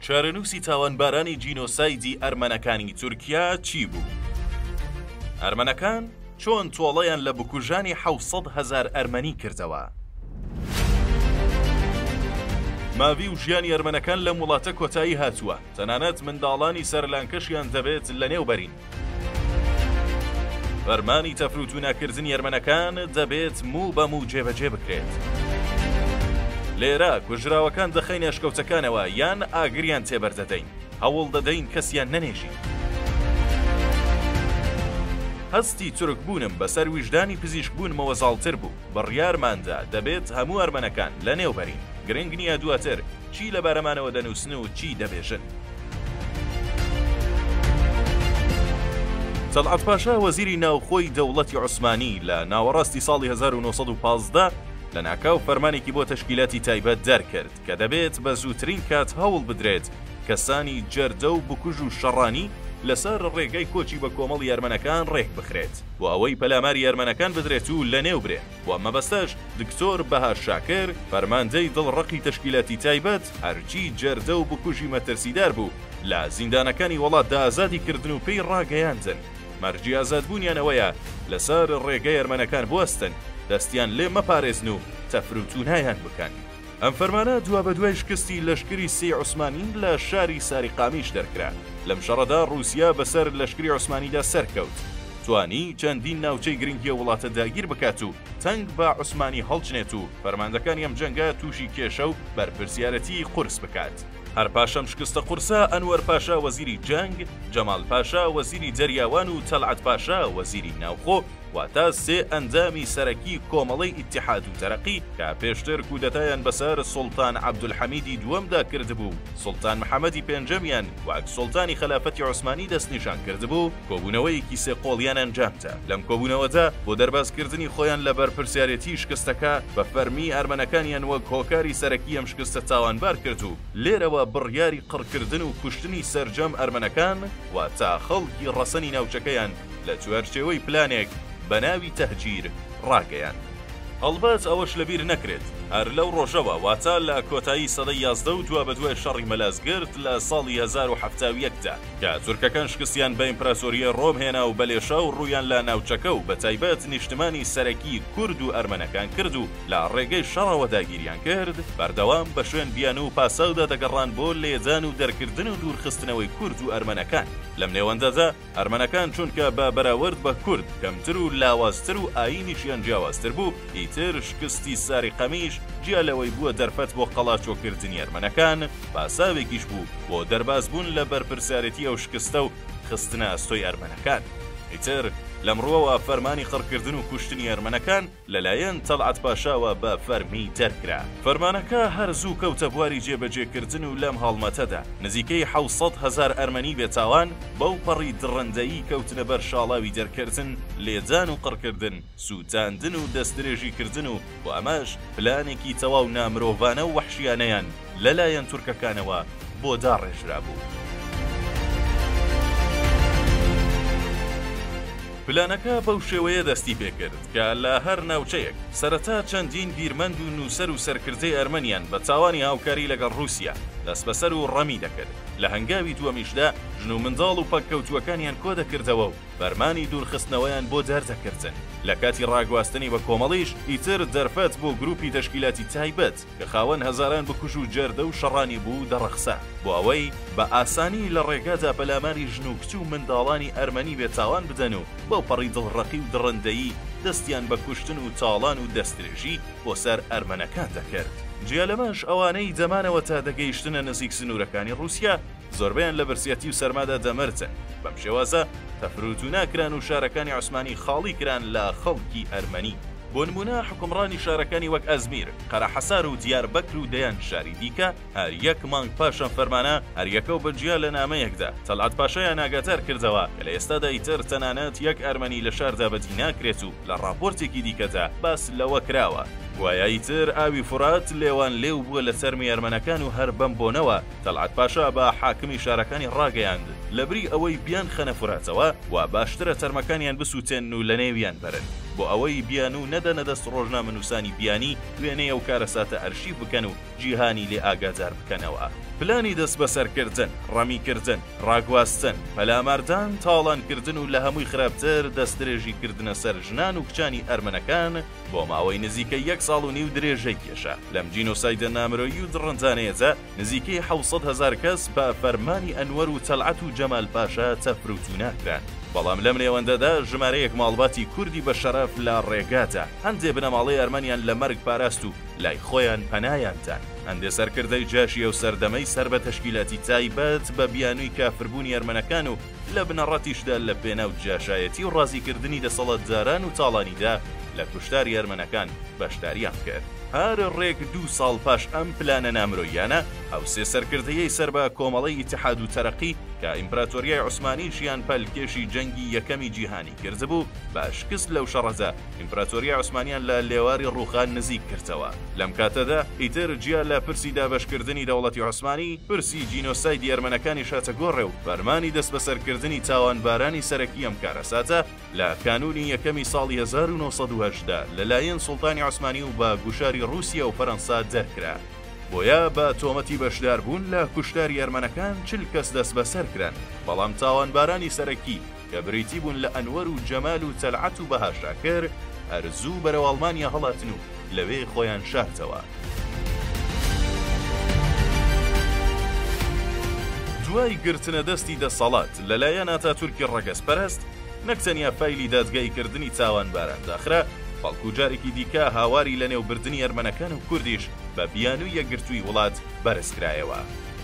چارەنووسی تاوانبارانی جینۆسایدی ئەرمەنەکانی تورکیا چی بوو؟ ئەرمەنەکان چۆن تۆڵەیان لە بکوژانی حوسەد هزار ئەرمەنی کردەوە؟ ماوی و ژیانی ئەرمەنەکان لەم وڵاتە کۆتایی هاتووە تەنانەت منداڵانی سەرلانکەشیان دەبێت لەنێوبەرین. فەرمانی تەفروتونەکردنی ئەرمەنەکان دەبێت موو بە موو جێبەجێ بکرێت. لێرە کوژراوەکان دەخەینە ئەشکەوتەکانەوە یان ئاگریان تێبەردەدەین، هەوڵ دەدەین کەسیان نەنێژین. هەستی تورکبوونم بەسەر ویژدانی پزیشکبوونمەوە زاڵتر بوو، بڕیارماندا دەبێت هەموو ئەرمەنەکان لەنێوبەرین، گرنگ نییە دواتر چی لەبارەمانەوە دەنووسن و چی دەبێژن؟ تەڵعەت پاشا وەزیری ناوخۆی دەوڵەتی عوسمانی لە ناوەڕاستی ساڵی 1915 لە ناکاو فەرمانێکی بۆ تەشکیلاتی تایبەت دەرکرد کە دەبێت بە زووترین کات هەوڵ بدرێت کەسانی جەردە و بکوژ و شەڕانی لەسەر ڕێگەی کۆچی بە کۆمەڵی ئەرمەنەکان ڕێک بخرێت بۆ ئەوەی پەلاماری ئەرمەنەکان بدرێت و لە نێو برێن. و مەبەستەش دکتۆر بەهار شاکر فەرماندەی دڵ ڕەقی تەشکیلاتی تایبەت هەرچی جەردە و بکوژی مەترسیدار بوو لە زیندانەکانی وەڵاتدا ئازادی کردن و پێی ڕاگەیاندن مەرجی ئازادبوونیان ئەوەیە لەسەر ڕێگەی ئەرمەنەکان بوەستن دەستیان لێ مەپارێزن و تەفروتونایان بکەن. ئەم فەرمانە دوابەدوای شکستی لەشکری سێی عوسمانی لە شاری ساریقامیش دەرکرا. لەم شەڕەدا ڕووسیا بەسەر لەشکری عوسمانیدا سەرکەوت. توانی چەندین ناوچەی گرنگی ئەو وڵاتە داگیر بکات و تەنگ بە عوسمانی هەڵچنێت و فەرماندەکانی ئەم جەنگە تووشی کێشە و بەرپرسیارەتیی قورس بکات. هەر پاش ئەم شکستە قورسە، ئەنوەر پاشا وەزیری جەنگ، جەمال پاشا وەزیری دەریاوان و تەلعەت پاشا وەزیری ناوخۆ، واتە سێ ئەندامی سەرەکی کۆمەڵەی ئیتیحاد و تەرەقی کە پێشتر کودەتایان بەسەر سوڵتان عەبدولحەمیدی دووەمدا کردبوو و سوڵتان محەمەدی پێنجەمیان وەک سوڵتانی خەلافەتی عوسمانی دەستنیشان کردبوو، کۆبوونەوەیەکی سێ قۆڵیان ئەنجامدا، لەم کۆبوونەوەدا بۆ دەربازکردنی خۆیان لە بەرپرسیارێتیی شکستەکە، بە فەرمی ئەرمەنەکانیان وەک هۆکاری سەرەکی ئەم شکستە تاوانبار کرد و لێرەوە بڕیاری قڕکردن و کوشتنی سەرجەم ئەرمەنەکان، واتە خەڵکی ڕەسەنی ناوچەکەیان لە چوارچێوەی پلانێک بە ناوی تەهجیر ڕاگەیاند. هەڵبەت ئەوەش لە بیر نەکرێت هەر لەو ڕۆژەوە واتە لە کۆتایی سەدەی یازدە و دوابەدوای شەڕی مەلازگرت لە ساڵی هەزار و حەفتا و یەک دا کە تورکەکان شکستیان بە ئیمپراسۆریی ڕۆم هێنا و بە لێشاو ڕوویان لە ناوچەکە و بەتایبەت نیشتمانی سەرەکی کورد و ئەرمەنەکان کرد و لە ڕێگەی شەڕەوە داگیریان کرد، بەردەوام بە شوێن بیانوو و پاساودا دەگەڕان بۆ لێدان و دەرکردن و دوورخستنەوەی کورد و ئەرمەنەکان. لەم نێوەندەدا، ئەرمەنەکان چونکە بە بەراورد بە کورد کەمتر و لاوازتر و ئایینیشیان جیاوازتر بوو، ئیتر شکستی ساریقەمیش جیا لەوەی بووە دەرفەت بۆ قەڵاچۆکردنی ئەرمەنەکان، پاساوێکیش بوو بۆ دەربازبوون لە بەرپرسیارێتی ئەو شکستە و خستنە ئەستۆی ئەرمەنەکان. ئیتر لەمڕووەوە فەرمانی قڕکردن و کوشتنی ئەرمەنەکان، لەلایەن تەڵعەت پاشاوە بە فەرمی دەرکرا. فەرمانەکە هەر زوو کەوتە بواری جێبەجێکردن و لەم هەڵمەتەدا نزیکەی حەوت سەد هەزار ئەرمەنی بێتاوان بەو پەڕی دڕندەیی کەوتنە بەر شاڵاوی دەرکردن، لێدان و قڕکردن، سووتاندن و دەستدرێژیکردن و بۆ ئەمەش پلانێکی تەواو نامرۆڤانە و وەحشیانەیان لەلایەن تورکەکانەوە بۆ داڕێژرابوو. پلانەکە بەو شێوەیە دەستی پێکرد کە لە هەر ناوچەیەک سەرەتا چەندین بیرمەند و نووسەر و سەرکردەی ئەرمەنیان بە تاوانی هاوکاری لەگەڵ ڕووسیا دەسبەسەر و ڕەمی دەکرد، لە هەنگاوی دووەمیشدا ژن و منداڵ و پەککەوتووەکانیان کۆدەکردەوە و فەرمانی دوورخستنەوەیان بۆ دەردەکردن، لە کاتی ڕاگواستنی بە کۆمەڵیش ئیتر دەرفەت بۆ گروپی تەشکیلاتی تایبەت، کە خاوەن هەزاران بکوژ و جەردە و شەڕانی بوو دەڕەخسا، بۆ ئەوەی بە ئاسانی لە ڕێگادا پەلاماری ژن و کچ و منداڵانی ئەرمەنی بێ تاوان بدەن و بەوپەڕی دڵڕەقی و دڕندەیی دەستیان بە کوشتن و تاڵان و دەستدرێژی بۆ سەر ئەرمەنەکان دەکرد. جیا لەمەش ئەوانەی دەمانەوە تا دەگەیشتنە نزیک سنوورەکانی ڕووسیا، زۆربەیان لە برسیەتی و سەرمادا دەمردن، بەم شێوازە تەفروتونا کران و شارەکانی عوسمانی خاڵی کران لە خەڵکی ئەرمەنی. بۆ نموونە حوکمڕانی شارەکانی وەک ئەزمیر، قەرەحەسار و دیار بەکر و دەیان شاری دیکە هەر یەک مانگ پاش ئەم فەرمانە هەر یەکە و بە جیا لە نامەیەکدا تەلعەت پاشایان ئاگادار کردەوە کە لە ئێستادا ئیتر تەنانەت یەک ئەرمەنی لە شاردا بەدی ناکرێت و لە ڕاپۆرتێکی دیکەدا باس لەوە کراوە گوایە ئیتر ئاوی فورات لێوان لێو بووە لە تەرمی ئەرمەنەکان و هەر بەم بۆنەوە تەڵعەت پاشا بە حاکمی شارەکانی ڕاگەیاند، لەبری ئەوەی بیانخەنە فوراتەوە، وا باشترە تەرمەکانیان بسووتێنن و لەنێویان بەرن، بۆ ئەوەی بیانوو نەدەنە دەست ڕۆژنامەنووسانی بیانی، وێنەی ئەو کارەساتە ئەرشیف بکەن و جیهانی لێ ئاگادار بکەنەوە. پلانی دەستبەسەرکردن، ڕەمیکردن، ڕاگواستن، پەلاماردان، تاڵانکردن و لە هەمووی خراپتر دەستدرێژیکردنە سەر ژنان و کچانی ئەرمەنەکان، بۆ ماوەی نزیکەی یەک ساڵ و نیو درێژەی کێشا. لەم جینۆسایدە نامرۆیی و دڕندانەیەدا نزیکەی حەوت سەد هەزار کەس بە فەرمانی ئەنوەر و تەلعەت و جەمال پاشا تەفروتونا کران. بەڵام لەم نێوەندەدا ژمارەیەک ماڵباتی کوردی بە شەرەف لە ڕێگادا، هەندێ بنەماڵەی ئەرمەنیان لە مەرگ پاراست و لای خۆیان پەنایان دا. هەندێ سەرکردەی جاشی ئەو سەردەمەی سەر بە تەشکیلاتی تایبەت بە بیانووی کافربوونی ئەرمەنەکان و لە بنەڕەتیشدا لە پێناو جاشایەتی و ڕازیکردنی دەسەڵاتداران و تاڵانیدا لە کوشتاری ئەرمەنەکان بەشداریان کرد. هەر ڕێک دوو ساڵ پاش ئەم پلانە نامرۆییانە، ئەو سێ سەرکردەیەی سەر بە کۆمەڵەی ئیتحاد و تەرەقی کە ئیمپراتۆریای عوسمانیشیان پەلکێشی جەنگی یەکەمی جیهانی کردبوو، بە شکست لەو شەڕەدا، ئیمپراتۆرییە عوسمانییان لە لێواری ڕووخان نزیک کردەوە. لەم کاتەدا، ئیتر جیا لە پرسی دابەشکردنی دەوڵەتی عوسمانی، پرسی جینۆسایدی ئەرمەنەکانیش هاتە گۆڕێ و فەرمانی دەستبەسەرکردنی تاوانبارانی سەرەکی ئەم کارەساتە لە کانوونی یەکەمی ساڵی هەزار و نۆ سەد و هەژدە لەلایەن سوڵتانی عوسمانی و بە گوشاری ڕووسیە و فەرەنسا دەرکرا. بۆیە بە تۆمەتی بەشداربوون لە کوشتاری ئەرمەنەکان چل کەس دەستبەسەر کران، بەڵام تاوانبارانی سەرەکی کە بریتی بوون لە ئەنوەر و جەمال و تەلعەت و بەهار شاکر، هەر زوو بەرەو ئەڵمانیا هەڵاتن و لەوێ خۆیان شارتەوە. دوای گرتنە دەستی دەسەڵات لە لایەن ئاتاتورکی ڕەگەزپەرەست، نەک تەنیا فایلی دادگاییکردنی تاوانباران داخرا، بەڵکوو جارێکی دیکە هاواری لەنێوبردنی ئەرمەنەکان و کوردیش بە بیانووی یەکگرتووی وڵات بەرز کرایەوە.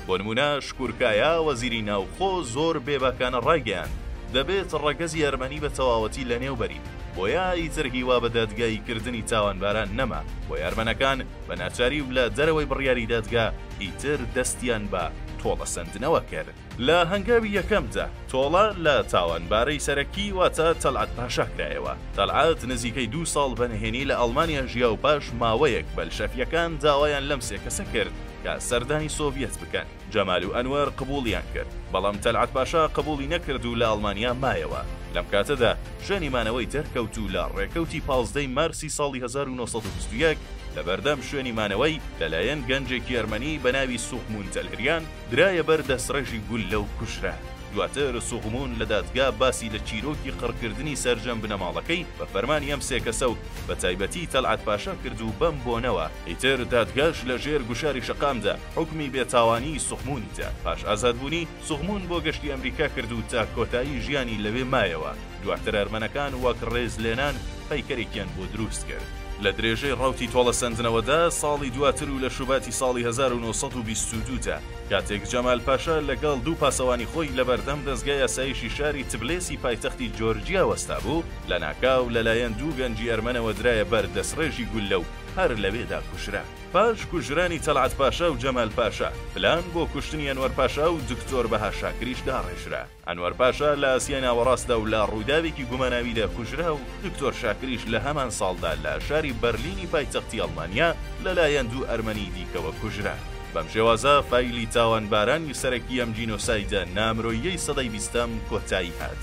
بۆ نموونە شکورکایا وەزیری ناوخۆ زۆر بێباکانە ڕایگەیاند، دەبێت ڕەگەزی ئەرمەنی بە تەواوەتی لەنێوبەرین، بۆیە ئیتر هیوا بە دادگاییکردنی تاوانباران نەما، بۆیە ئەرمەنەکان بە ناچاری و لە دەرەوەی بڕیاری دادگا ئیتر دەستیان بە تۆڵەسەندنەوە کرد. لە هەنگاوی یەکەمدا تۆڵە لە تاوانبارەی سەرەکی واتە تەلعەت پاشا کرایەوە، تەلعەت نزیکەی دوو ساڵ بە نهێنی لە ئەڵمانیا ژیا و پاش ماوەیەک بەلشەفییەکان داوایان لەم سێ کەسە کرد، کە سەردانی سۆڤیەت بکەن. جەمال و ئەنوەر قبووڵیان کرد، بەڵام تەلعەت پاشا قبووڵی نەکرد و لە ئەڵمانیا مایەوە. لەم کاتەدا شوێنی مانەوەی دەرکەوت و لە ڕێکەوتی پازدەی مارسی ساڵی هەزار و نۆ سەد و بیست و یەک لەبەردەم شوێنی مانەوەی لەلایەن گەنجێکی ئەرمەنی بەناوی سوغموون تەلهریان درایە بەر دەستڕێژی گوللە و کوژرا. دواتر سوغموون لە دادگا باسی لە چیرۆکی قڕکردنی سەرجەم بنەماڵەکەی بە فەرمانی ئەم سێ کەسە و بەتایبەتی تەلعەت پاشا کرد و بەم بۆنەوە، ئیتر دادگاش لە ژێر گوشاری شەقامدا حوکمی بێ تاوانیی سوخموونی دا. پاش ئازادبوونی، سوخموون بۆ گەشتی ئەمریکا کرد و تا کۆتایی ژیانی لەوێ مایەوە. دواتر ئەرمەنەکان وەک ڕێزلێنان پەیکەرێکیان بۆ دروست کرد. لە درێژەی ڕەوتی تۆڵەسەندنەوەدا، ساڵی دواتر و لە شوباتی ساڵی هەزار و نۆ سەد و بیست و دوو دا، کاتێک جەمال پاشا لەگەڵ دوو پاسەوانی خۆی لە بەردەم دەزگای ئاسایشی شاری تبلێسی پایتەختی جۆرجیا وەستابوو، لەناکاو لەلایەن دوو گەنجی ئەرمەنەوە درایە بەر دەسڕێژی گوللە و هەر لەوێدا کوژرا. پاش کوژرانی تەڵعەت پاشا و جەمال پاشا، پلان بۆ کوشتنی ئەنوەر پاشا و دکتۆر بەها شاکریش داڕێژرا. ئەنوەر پاشا لە ئاسیای ناوەڕاستدا و لە ڕووداوێکی گوماناویدا کوژرا و دکتۆر شاکریش لە هەمان ساڵدا لە شاری بەرلینی پایتەختی ئەڵمانیا لەلایەن دوو ئەرمەنیی دیکەوە کوژرا. بەم شێوازە فایلی تاوانبارانی سەرەکی ئەم جینۆسایدە نامرۆییەی سەدەی بیستەم کۆتایی هات.